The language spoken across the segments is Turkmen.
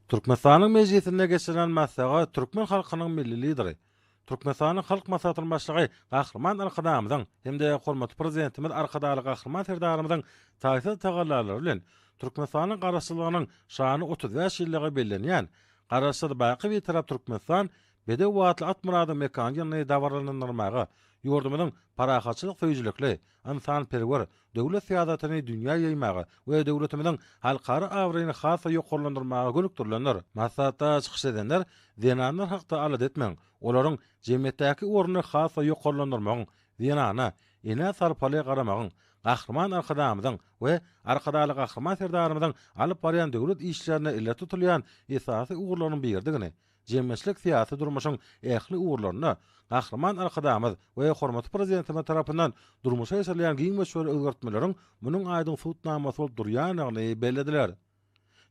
Türkmenistanyň Mejlisinde geçirilen maslahat türkmen halkynyň Milli Lideri, Türkmenistanyň Halk Maslahatynyň Başlygy Gahryman Arkadagymyzyň hem-de hormatly Prezidentimiz Arkadagly Gahryman Serdarymyzyň taýsyz tagallalary bilen Türkmenistanyň Garaşsyzlygynyň şanly otuz bäş ýyllygy bellenýän Garaşsyz, baky Bitarap Türkmenistan bedew atly Atmyradyň mekany ýylyny dabaralandyrmaga ýurdumyzyň parahatçylyk söýüjilikli ynsanperwer döwlet syýasatyny dünýä ýaýmaga we döwletimiziň halkara abraýyny has-da ýokarlandyrmaga gönükdirilendir. Maslahatda çykyş edenler zenanlar hakda alada etmegiň, olaryň jemgyýetdäki ornuny has-da ýokarlandyrmagyň, zenana, enä sarpaly garamagyň, Gahryman Arkadagymyzyň we Arkadagly Gahryman Serdarymyzyň alyp barýan döwlet işlerinde ileri tutulýan esasy ugurlaryň biridigini, jemgyýetçilik-syýasy durmuşyň ähli ugurlarynda Gahryman Arkadagymyz we hormatly Prezidentimiz tarapyndan durmuşa geçirilýän giň möçberli özgertmeleriň munuň aýdyň subutnamasy bolup durýandygyny bellediler.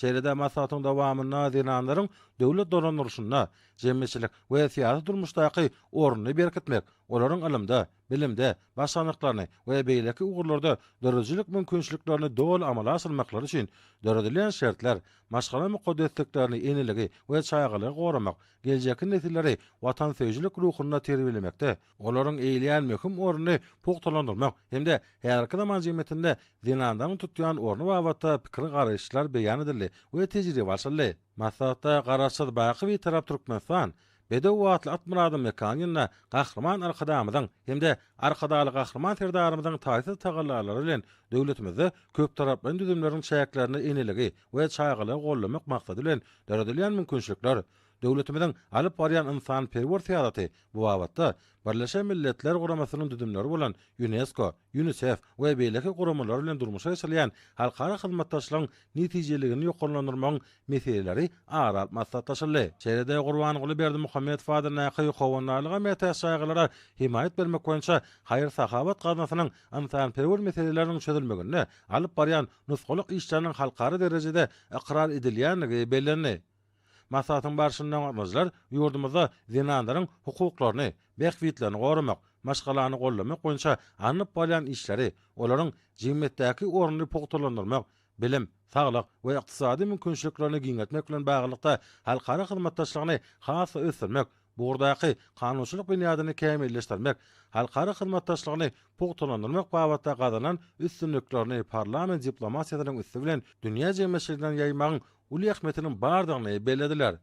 Şeýle-de maslahatyň dowamynda zenanlaryň döwlet dolandyrylşynda, jemgyýetçilik we syýasy durmuşdaky ornuny berkitmek, olaryň ylymda, bilimde başarnyklaryny we beýleki ugurlarda döredijilik mümkinçiliklerini doly amala aşyrmaklary üçin döredilen şertler, maşgala mukaddesliklerini, eneligi we çagalygy goramak, geljekki nesilleri watansöýüjilik ruhunda terbiýelemekde, olaryň eýeleýän möhüm ornuny pugtalandyrmak hem-de häzirki zaman jemgyýetinde zenanlaryň tutýan orny babatda pikir-garaýyşlar beýan edildi we tejribe alşyldy. Maslahatda Garaşsyz, baky Bitarap Türkmenistan, Bedew atly Atmyradyň mekany ýanynda Gahryman Arkadagymyzyň hem-de Arkadagly Gahryman Serdarymyzyň taýsyz tagallalary bilen döwletimizde köptaraplaýyn düzümleriň çäklerinde eneligi we çagalygy goldamak maksady bilen döredilýän mümkinçilikler, döwletimiziň alyp barýan ynsanperwer syýasaty bu babatda Birleşen Milletler Guramasynyň düzümleri bolan Ýunesko, Ýunisef we beýleki guramalar bilen durmuşa geçirilýän halkara hyzmatdaşlygyň netijeliligini ýokarlandyrmagyň meseleleri ara alyp maslahatlaşyldy. Şeýle-de Gurbanguly Berdimuhamedow adyndaky Howandarlyga mätäç jaýgalara hemaýat bermek boýunça haýyr-sahawat gaznasynyň ynsanperwer meseleleriniň çözülmeginde alyp barýan nusgalyk işleriniň halkara derejede ykrar edilýändigi bellendi. Maslahatyň barşynda gatnaşyjylar ýurdumyzda zenanlaryň hukuklaryny, bähbitlerini goramak, maşgalany goldamak boýunça alnyp barylýan işleri, olaryň jemgyýetdäki ornuny pugtalandyrmak, bilim, saglyk we ykdysady mümkinçiliklerini giňeltmek bilen baglylykda halkara hyzmatdaşlygyny has-da ösdürmek, bu ugurdaky kanunçylyk binýadyny kämilleşdirmek, halkara hyzmatdaşlygyny pugtalandyrmak babatda gazanan üstünliklerini parlament diplomatiýasynyň üsti bilen dünýä jemgyýetçiligine ýaýmagyň uly ähmiýetiniň bardygyny bellediler.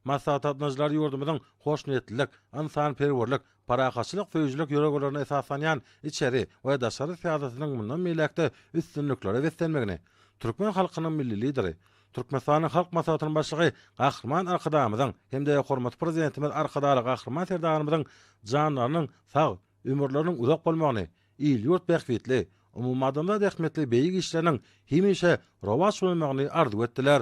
Maslahata gatnaşyjylar ýurdumyzyň hoşniýetlilik, ynsanperwerlik, parahatçylyk söýüjilik ýörelgelerine esaslanýan içeri we daşary syýasatynyň mundan beýläk-de üstünliklere beslenmegini, türkmen halkynyň Milli Lideri, Türkmenistanyň Halk Maslahatynyň Başlygy Gahryman Arkadagymyzyň hem-de hormatly Prezidentimiz Arkadagly Gahryman Serdarymyzyň janlarynyň sag, ömürleriniň uzak bolmagyny il-ýurt bähbitli, umumadamzat ähmiýetli beýik işleriniň hemişe rowaç bolmagyny arzuw etdiler.